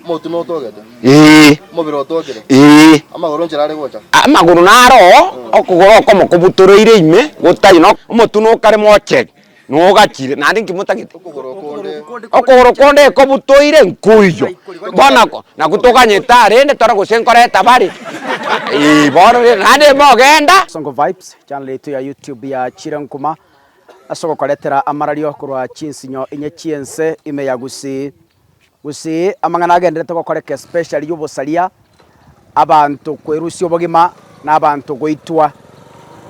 Omotu notogete, Ee, omobere otogire, ee, amagoro nchera are gocha. amagoro naro oo, okogoro okomo kobutoreire ime, gotari no omotu nokare mocheri, nogachire, naende inki motagete? Okogoro okonde, okogoro konde ekobutoire nkoiyo, bono ko nabwo toganyete arende tore gose nkoreta bare, ee, bono rende naende mogenda. Songo Vibes, channel yaito ya YouTube ya Chire Nkuma. as'ogokoretera amarario korwa chinsinyo inye chi'ense ime ya Gusii. Gusii amang'ana agenderete gokoreka especially y'obosaria, abanto kwerusia obogima na abanto goitwa.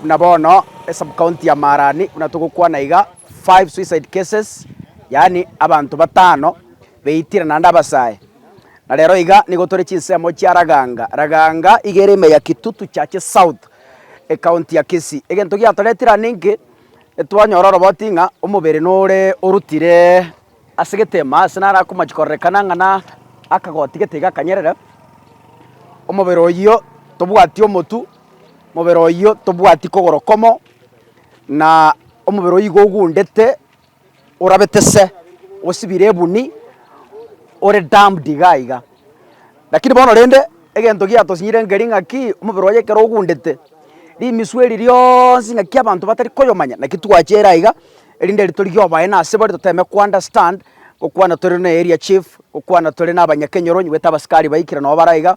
Buna bono esubcounty ya Marani buna togokwana iga five suicide cases yaani abanto batano beitire naende abasae. Na rero iga nigo tore chinsemo chia Raganga, Raganga iga ere ime ya Kitutu Chache South Ekaunti ya Kisii. Egento giatoretire aa ninki? Etwanyora oroboti ng'a omobere nore orutire ase egetemo aa ase naro akomochia kororekana ng'a na akagoti gete iga akanyerere, omobere oyio tobwati omotu, omobere oyio tobwati kogoro komo, na omobere oyio iga ogundete. orabetese osibire ebuni ore damned iga iga. Lakini bono rende egento giatosinyire nkeri ng'a ki, omobere oye ekero ogundete, rimisu eri rionsi ng'aki abanto batari koyomanya, naki twache ere aiga erinde ritorigie oboene ase bare toteme ko understand, gokwana tore na area chief, gokwana tore na abanyakenyoro onye goeta abasikari baikire nabo bare iga.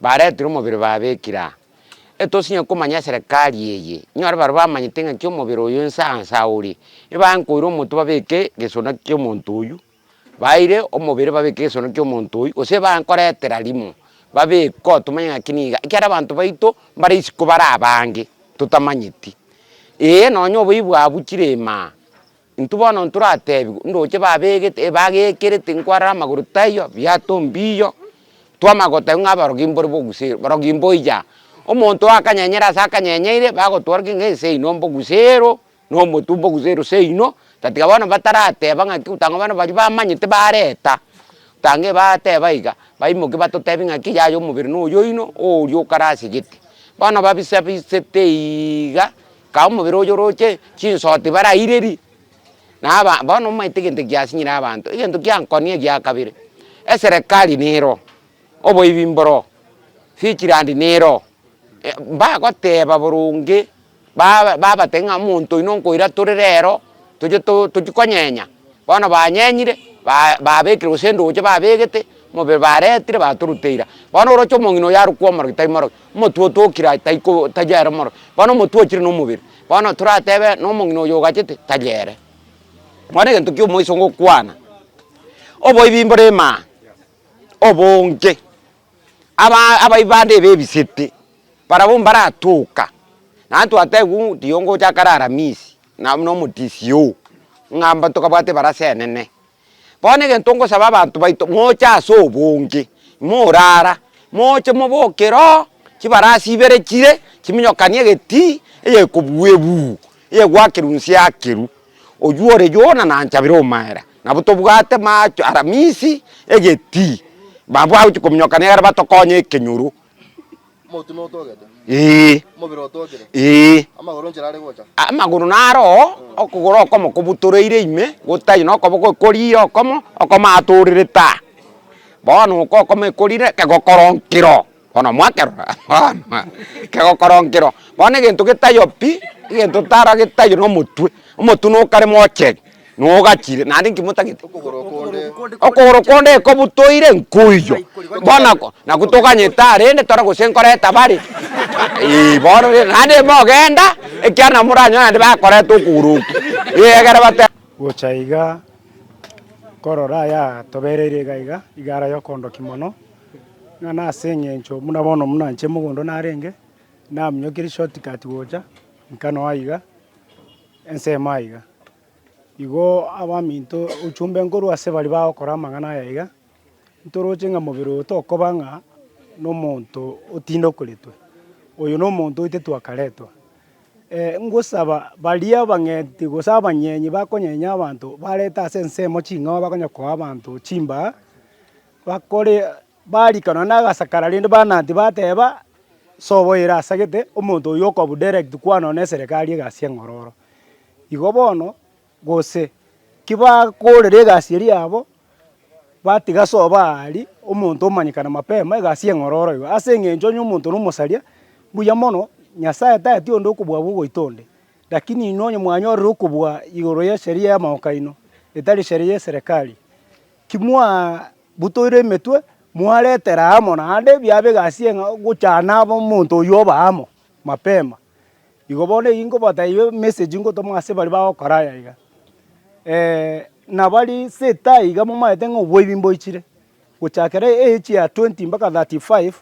Baretire omobere babekire aa. Etosinye komanya eserekari eye, inyore baria bamanyete ng'aki omobere oyo inse ansa ore, nibaye nkoira omonto babeke gesona ki'omonto oyio, baire omobere babeke gesona ki'omonto oyio, gose nibaye nkoretera rimo babeko tomanye ng'aki niga, ekiagera abanto baito mbare isiko bare abange totamanyeti. Ee, nonye oboiyi bwabuchire imaa. Intwe bono ntoratebigwe, ndoche babegete ebagekerete nkwarora amagoro taiyo, biato mbiyo, twamanya gotebwa ng'a abarogi mbore bogusero, barogi mboiya. Omonto oakanyenyera ase akanyenyeire, bagotwora ki ng'a ese oino mbogusero, na omotwe mbogusero ase oino, tatiga bono batarateba ng'aki otanga bono baria bamanyete bareta, otange bateba iga, baimoke batotebi ng'aki yaya omobere noyo oino, oyo okarasigete. Bono babisa bisete iiga, Kae omobere oyo oroche chinsoti barairerie, na aba bono omaete egento eki kiasinyire abanto, egento kiankoni egia kabere, eserekari nero, oboibi mboro, Fichland nero, eh mbagoteba boronge ba- babatebia ng'a omonto oino nkoira tore rero toche to- tochi konyenya, bono banyenyire ba- babekire gose endooche babegete, omobere baretire batoruteira. Bono oroche omong'ina oyo arokwa omorogi tari morogi. Omotwe otokire aye taiko tari ere omoro, bono omotwe ochire nomobere, bono toratebe na omong'ina oyo ogachete tari ere. Bono egento kia omoiso ngokwana, oboibi mbore emaa, obonge, aba abaibi bande ebebisete, barabwo mbaratoka, naende twatebiwu rirongo ocha kare aramisi, nabo nomotisi oo, ng'a mba tokabwate ebarasa enene. Bono egento ngosaba abanto baito moche ase obonge morara moche moboke roo chibarasi ibere chire chiminyokanie egetii eyekobua ebuu eyegwa akeru nse akeru oywo ore Yona nanchabire omaera nabo tobwate macho aramisi egetii nabo agochia kominyokania egere batokonye ekenyoro Ee, ee, amagoro naro oo, okogoro okomo kobutoreire ime, gotari nokoboko ekorire okomo, okomo atorerete aa. Bono oko okomo ekorire kegokora nkiro, bono mwakerora bono kegokora nkiro. Bono egento getaiyo pi, egento tara getaiyo nomotwe, omotwe nokare mocheri. Nogachire, naende inki motagete? Okogoro okonde. Okogoro konde ekobu toire nkoiyo bono ko naku toganyete aa rende tore gose nkoreta bare ee bono rende naende mogenda ekiara nabo moranyore naende bakoreta okogoro oko ee egere bate Gocha iga, nkorora aya atobereire iga iga, iga ara yokondoki mono, ng'a nase eng'encho buna bono buna inche mogondo narenge, naminyokirie shortcut gocha, nka noa iga. Ensemo aiga, igo abaminto ochumbe nkorwa ase baria bagokora amang'ana aya iga, ntoroche ng'a mobere oyo tokoba ng'a nomonto otindokoretwe, oyo nomonto oetetwe akaretwa. ngosaba baria abang'eti gose abanyenyi bakonyenya abanto barete ase ensemo ching'ao bakonye koa abanto chimbaa, bakore. Bariikana onde agasakara rende banaanti bateeba, Sobo ere asagete, omonto oyio okobu direct kwana one neserekari egasi eng'ororo. Igo bono, gose kibakoorera egasi eria yabo, batiga sobo aari, omonto omanyekane mapema egasi eng'ororo iga. Ase eng'encho onye omonto na omosaria, mbuya mono, Nyasaye tati onde okobua abwo ogoita onde. Rakini inwe onye mwanyorire okobua igoro y'esheria y'amamoko aino, etari sheria y'eserekari. Timwabutoire emetwe, mwaretera amo naende biabe egasi eng'ao gochana aba omonto oyio oba amo mapema. Igo bono eyio nkobatebia emessage ngotoma ase baria bagokora aya iga. Nabari seta iga momaete ng'a oboibi mboichire, gochakera age ya twenty mpaka thirty five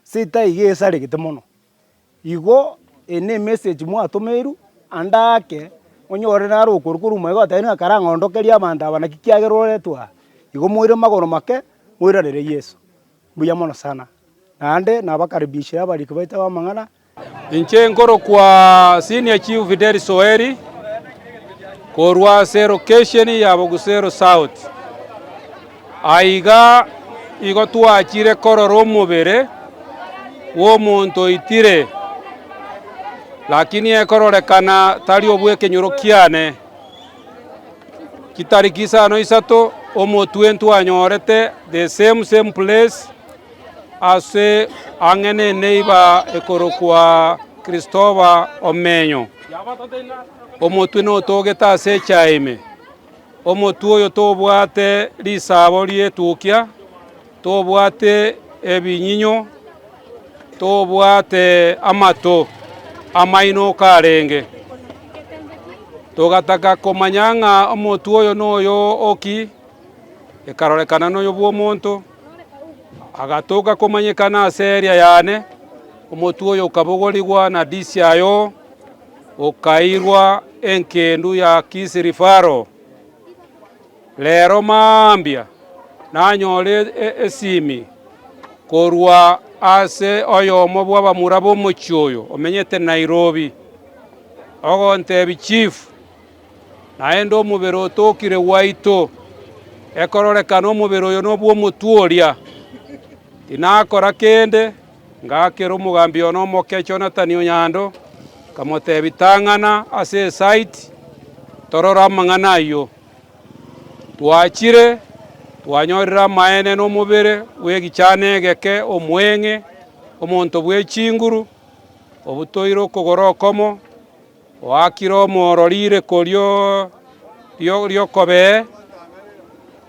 seta iga esaregete mono. Igo eye nemessage mwatomeirwe, ande ake, onyore naro okoru korwa omwega otebire ng'a karang'ondokerie abanto aba naki kiagera oretwe aa. Igo moire magoro make, moiranere Yeso. Mbuya mono sana. Naende nabakaribishire abariki baito b'amang'ana. Inche nkorokwa Senior Chief Fidelis Oweri, korwa ase elocation ya Bogusero South. Aiga igo twachire korora omobere bw'omonto oitire, lakini ekororekana tari obw'ekenyoro kiane. Chitariki isano isato omotwe ntwanyorete the same same place ase ang'e n'eneiba ekorokwa Christopher Omenyo, omotwe notogete ase echae ime. Omotwe oyo tobwate risaabo ri'etukia, tobwate ebinyinyo, tobwate amato amainoka arenge. Togataka komanya ng'a omotwe oyo noyo o ki, ekarorekana noyo bw'omonto, agatoka komanyekana ase eria yane, omotwe oyo okabogorigwa na disiayo. okairwa engendu ya Kisirifaro. Reero mambia nanyore esimi korwa ase oyomo bw'abamura b'omochie oyo omenyete Nairobi, ogontebia, Chief, naende omobere otokire gwaito, ekororekana omobere oyo nobw'omotwe oria. Tinakora kende. Ngaakera omogambi one omoke, Jonathani o Nyando, nkamoteebia, Tang'ana ase esaiti, torore amang'ana ayio. Twachire, twanyorire amaene nomobere bw'egechaano egeke omoeng'e, omonto bwe chinguru, obutoire okogoro okomo, Oakire omooro riireko ri'okobee,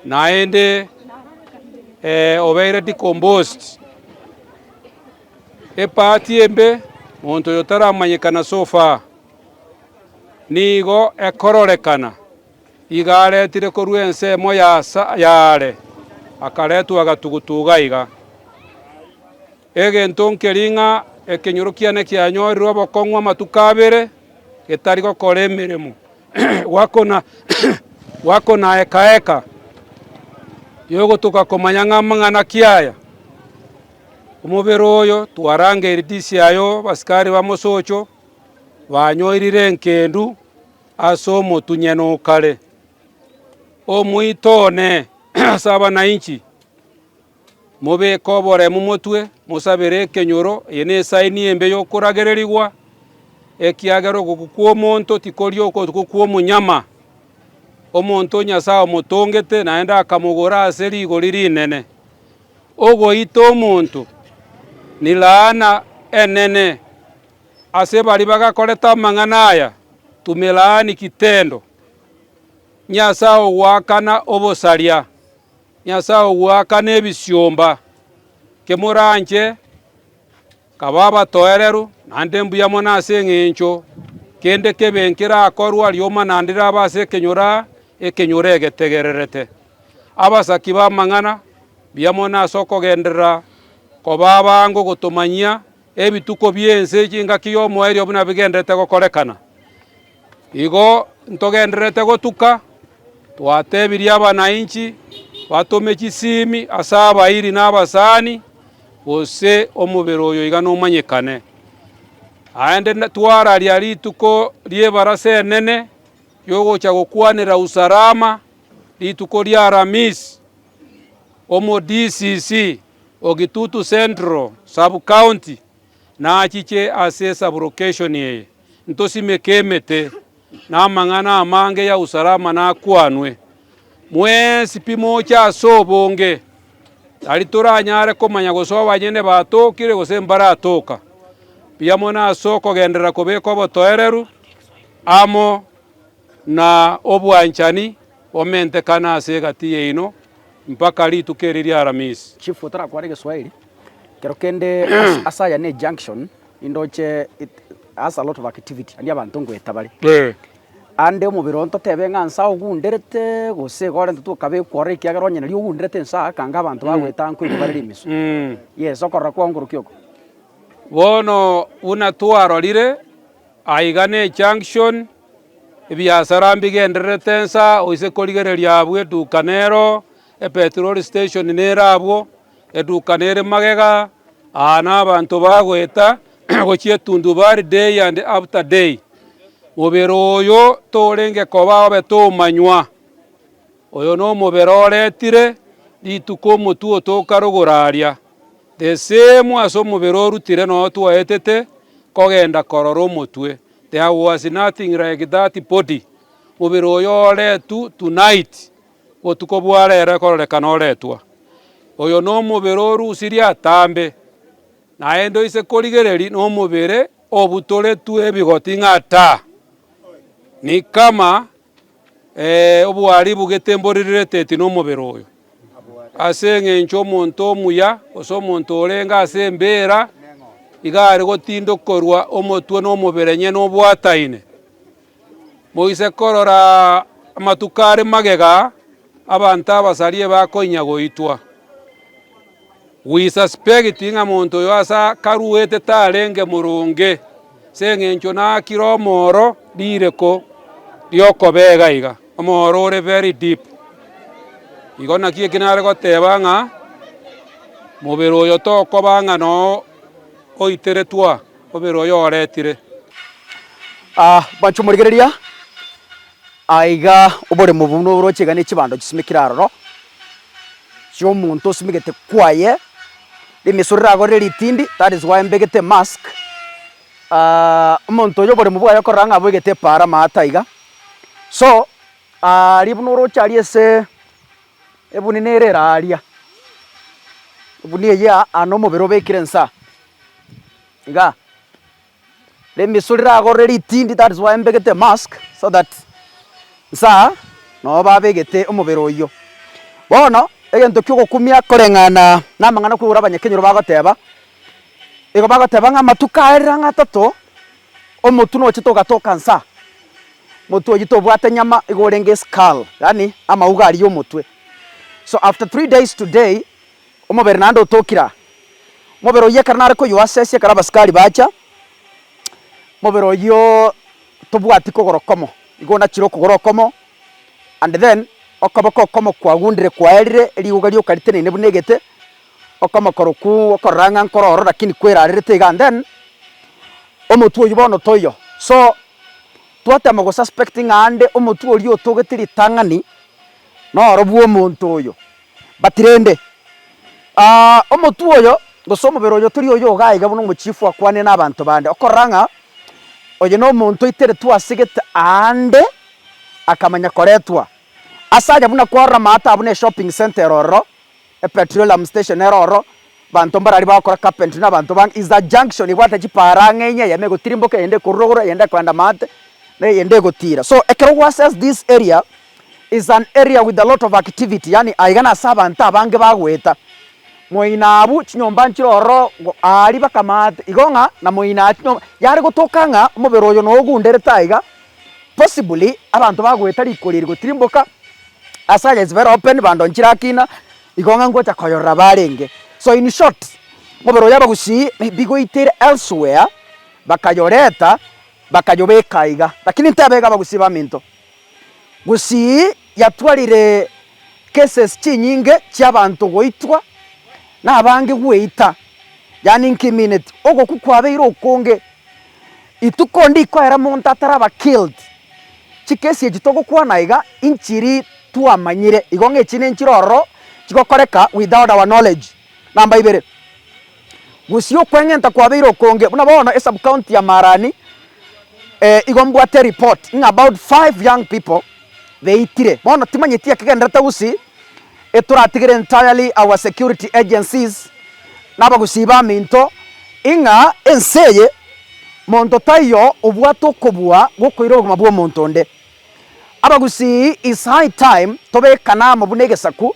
naende obeire decomposed, epaati embe, monto oyo taramanyekana so far, nigo ekororekana. Igo aretire korwa ensemo y'aare, akaretwa agatugutuga iga. Egento nkeri ng'a ekenyoro kiane kianyorire obokong'u amatuko abere getari gokora emeremo, gwakona eka eka y'ogotoka komanya ng'a amang'ana ki aya, Omobere oyo twarangeireti ise aye abasikari ba mosocho banyorire enkendu ase omotunyene o kare, omoito one ase abanainchi. Mobeke oboremu motwe, mosabere ekenyoro. Eye nesaini embe y'okoragererigwa, ekiagera okokwa kw'omonto tikori okokwa kw'omonyama. Omonto Nyasae omotongete, naende akamogora ase rigori rinene. Ogoita omonto nilaana enene. Ase baria bagakorete amang'ana aya, tumelaani kitendo, Nyasae ogoakana obosaria. Nyasae ogoaka nebisiomba, kemoranche, kaba abatoereru, naende mbuya mono ase engencho kende kebe nkerakorwa rioma naende rabe ase ekenyoro aa ekenyoro egetegererete. Abasaki b'amang'ana, mbuya mono ase okogenderera koba abange ogotomanyia ebituko bi'ense chingaki y'omoerio buna bigendererete gokorekana. Igo ntogendererete gotuka, twatebirie abanainchi batome chisiimi ase abairi na abasani, gose omobere oyo iga nomanyekane. Naende twararia rituko ri'ebarasa enene y'ogocha gokwanera Usalama, rituko ria Alhamis, omo DCC o Kitutu Central Sub-county. nachiche ase esaburokeshoni eye, ntosimeke emete, na amang'ana amange ya usalama nakwanwe. Mwensi pi moche ase obonge, tari toranyare komanya gose abanyene batokire gose mbaratoka, mbuya mono ase okogenderera kobeka obotoereru amo na obwanchani, Omentekane ase egati yaino mpaka rituko eri ri'Aramisi. Chief otarakwana egeswahili kero kende ase aya ne junction indoche it has a lot of activity and abanto ngoeta bare aande omobere oo ntotebe ng'a nsa ogunderete gose iga orentete okaba ekworo ekiagera onye nari ogunderete nsa akanga abanto bagoeta anko igo bare rimisu yes okorora kwao nkorokia oko. Bono buna twarorire aiga ne junction Ebiasara mbigendererete ensa oise korigereria abwo eduka nero epetroli station nere abwo, eduka nere magega, aa nabanto bagoeta gochia etundubari day and after day. Mobere oyo torenge koba obe tomanywa. Oyo nomobere oretire rituko omotwe oto okarogora aria, the same ase omobere orutire noo twaetete kogenda korora omotwe, there was nothing like that body, mobere oyo oretu tonight, botuko bware ere kororekana oretwa. Oyo nomobere orusirie atambe, naende oise korigereri nomobere obutoretwe ebigoti ng'a ta, nikama. Ee, oboaribu getemborirereti nomobere oyo, ase engencho omonto omuya, gose omonto orenge ase embeera, iga are gotindokorwa omotwe nomobere enyene obwataine. Moise korora amatuko are magega. Abanto abasaria ebakoinyia goitwa. We suspect ng'a monto oyo ase akaruete tarenge moronge, ase eng'encho naakire omooro rireko ri'okobega iga, omooro ore very deep. Igo naki eki nare goteba ng'a mobere oyo tokoba ng'a noo oiteretwe aa, mobere oyo oretire. Aa, bancha omorigereria, Aiga oboremo obwo buna oroche iga ne chibando chisimekire aroro, chi'omonto osimegete kwaye, rimeso riragorire ritindi, that is why mbegete emask, omonto oyo oboremo bwaye okorora ng'a aboigete epaara amaato taiga. So aria buna oroche aria ase ebunini ere ere aaria, egunia eyio aa nomobere obekire inse aa, igaa. Rimisu riragorore ritindi, that is why mbegete mask, so that nsa noo babegete omobere oyio. Bono egento kiogokumia koreng'ana namang'ana kwegure abanyakenyoro bagoteba, igo bagoteba ng'a amatuko aya rirang'atato omotu nochete ogatoka nsa, omotu oyio tobwate nyama igo orenge skull, yaani amauga aria omotwe. So after three days today, Omobere naende otokire aa. Omobere oyio ekero nare koyoasesia ekero abasikari bacha, omobere oyio tobwati kogora okomo, igo onachire okogora okomo and then okoboko okomo kwagundire kwaerire erigoga rioka riteneine buna egete, okomo korokwo okorora ng'a nkoro ororo lakini kwerarerete iga and then omotwe oyio bono toiyo. So twatema gosuspect ng'a aande omotwe oria otogete ritang'ani noro bwomonto oyo. Batirende, omotu oyo, gose omobere oyo tori oyo iga aiga buna omochifu akwanire nabanto bande, okorora ng'a oyo nomonto oiteretwe ase gete aande akamanya koretwa. Ase aye buna kwarora amato aa buna eshopping centre ero ororo, epetroleum station ero ororo, abanto mbararia bagokora carpentry na abanto bange, is a junction ebwate chipaara ang'e inya eyemo egotirimboka eyende ekorurogoro eyende ekoenda maate na eyende egotiira. So ekero gwase as this area, It's an area with a lot of activity yaani aiga nase abanto abange bagoeta. Moina abwo chinyomba nchire ororo go aaria bakamaate igo ng'a na moina aa chinyomba yare gotoka ng'a omobere oyo nogunderete aiga possibly abanto bagoeta riko riria rigotirimboka ase aye chibere open bando nchire akina igo ng'a ngocha koyorora barenge. So in short omobere oyo abagusii maybe goitire elsewhere bakayoreta bakayobeka aiga lakini intebaiga abagusii baminto. Gusii yatwarire cases chinyinge chiabanto goitwa nabange gweita, yaani nkimineti ogokwa kwabeire okonge. Rituko ndikoera monto ataraba killed, chikesi echi togokwana iga inchiri twamanyire, igo ng'a echi nenchire ororo chigokoreka without our knowledge. Namba ibere. Gusii okweng'enta kwabeire okonge buna bono e sub county ya Marani eh, igo mbwate report ng'a about five young people beitire, bono timanyeti ekegenderete gusii etoratigere entirely our security agencies na abagusii baminto ing'a ense eye monto taiyo obwate okobua gokoira obogima bwa omonto onde. Abagusii it's high time tobekane amo buna egesaku,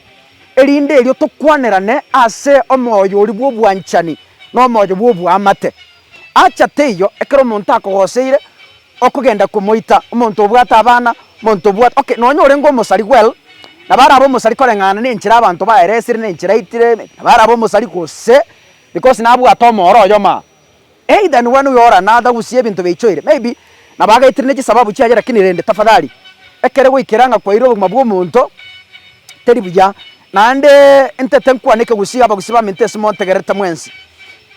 erinde erio tokwanerane ase omoyo oria bw'obwanchani na omoyo bw'oboamate. Acha teiyo, ekero omonto akogoseire, okogenda komoita, omonto obwate abana, omonto obwate okay, nonya orenge omosari well, nabo arabe omosari koreng'ana nenchera abanto baeresire, nenchera aitire, nabo arabe omosari gose because nabwate omooro oyomo aa. Either nigo anoe ore na athagusie ebinto biaichoire, maybe nabo agaitirane chisababu chiaye lakini rende tafadhali ekero goikera ng'a kwaire obogima bw'omonto teri buya. Naende intete nkwane ekegusi abagusii baminto ase montegererete mwensi.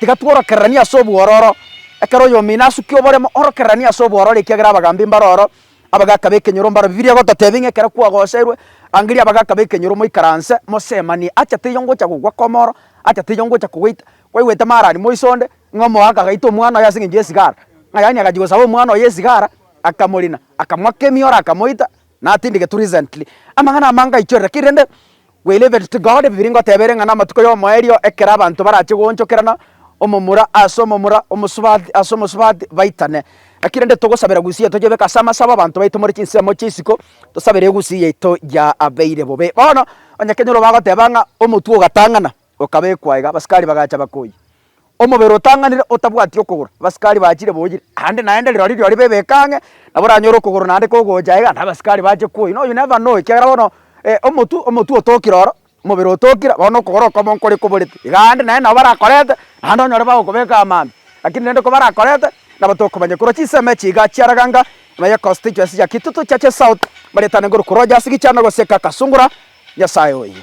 Tiga tworokereranie ase obwororo. Ekero oyomino asukia oboremo orokereranie ase obwororo ekiagera abagambi mbaro oro, abagaka b'ekenyoro mbaro. Bibilia egototebia ng'a ekero kwagoserwe, rangeria abagaka b'ekenyoro moikaranse mosemanie. Acha teiyo ngocha gogwa komoro, acha teiyo ngocha kogoita, Kwaigwete mara ari moiso onde, ng'a omoaka agaita omwana oye ase engencho y'esigara, ng'a yaani agachia gosaba omwana oye esigara, akamorina, akamoaka emioro, akamoita, natindigetwe recently. Amang'ana amange aichorire, lakini rende we leave it to God, Bibilia ngoteba ere ng'a namatuko y'omoerio ekero abanto barache goonchokerana, omomura ase omomura, omosubati ase omosubati, baitane. Lakini rende togosabera egusia eria toyebeke ase amasabo abanto baitomore chinsemo chia isiko, tosabere egusia yaito yaabeire bobe. Bono, onye kenyoro bagoteba ng'a omotwe ogatang'ana. okabekwa aiga, abasikari bagacha bakoyia, Omobere otang'anire otabwati okogoro, abasikari bachire boyire, aande naende rirorio rirorio bebeke ang'e, nabo oranyore okogoro naende kogocha aiga, na abasikari bache koyia, no you never know ekiagera bono omotwe omotwe otokire oro, omobere otokire, bono okogoro okobe nkore koborete, iga aande naende nabo barakorete, naende onyore bagokobeka amambia, lakini rende kobarakorete, nabo tokomanya korwa chisemi echi iga chiaraganga, nonya econstituency ya Kitutu, Churches South, baretane korwa korwa Rogers, Gichana, gose Kakasungura, Nyasaye oyo.